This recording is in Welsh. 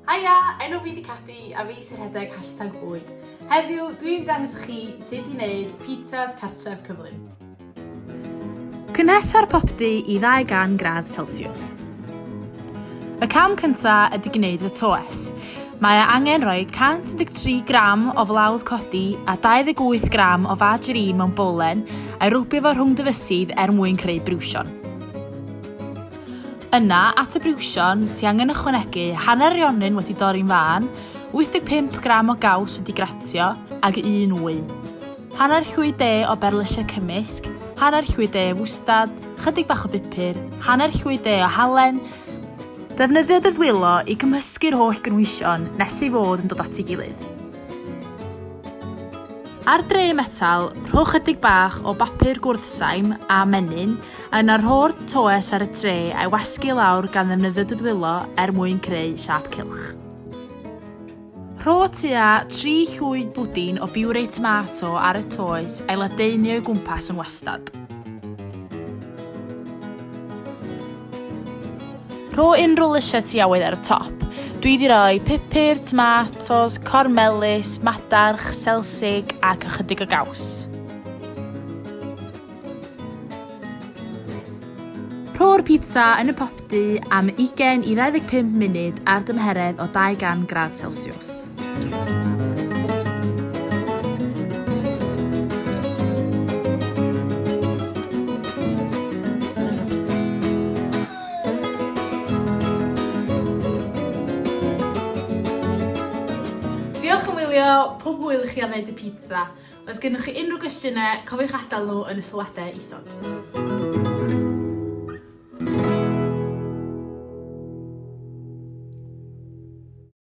Haia, enw fi di Cathy a fi sy'n rhedeg hashtag bwyd. Heddiw, dwi'n dangos chi sut i wneud pizzas cartref cyflym. Cynhesa'r popty i ddau gan gradd Celsius. Y cam cynta ydy gwneud y toes. Mae e angen rhoi 113 gram o flawd codi a 28 gram o fad jrin mewn bolen a'i rwbio fo rhwng dyfysydd er mwyn creu briwsion. Yna, at y briwsion, ti angen ychwanegu hanner rionyn wedi dorri'n fân, 85 gram o gaws wedi gratio, ag un wy. Hanner llwy de o berlysiau cymysg, hanner llwy de o fwstad, chydig bach o bupur, hanner llwy de o halen, Defnyddio dy ddwylo i gymysgu'r holl gynhwysion nes ei fod yn dod at ei gilydd. Ar dre metal, rho chydig bach o bapur gwrthsaim a menyn, a yna rho'r toes ar y tre a'i wasgu i lawr gan ddefnyddio dy ddwylo er mwyn creu siâp cylch. Rho tua tri llwyd bwdin o biwrei tomato ar y toes a'i ladeini o'i gwmpas yn wastad. Rho unrhyw lysiau ti awydd ar y top. Dwi wedi rhoi pupur, tomatos, corn melys, madarch, selsig ac ychydig o gaws. Rho'r pizza yn y popty am 20 i 25 munud ar dymheredd o 200 gradd Celsiws. Diolch am wylio, pob hwyl i chi ar wneud y pizza! Os gennych chi unrhyw gwestiynau, cofiwch adael nhw yn y sylwadau isod.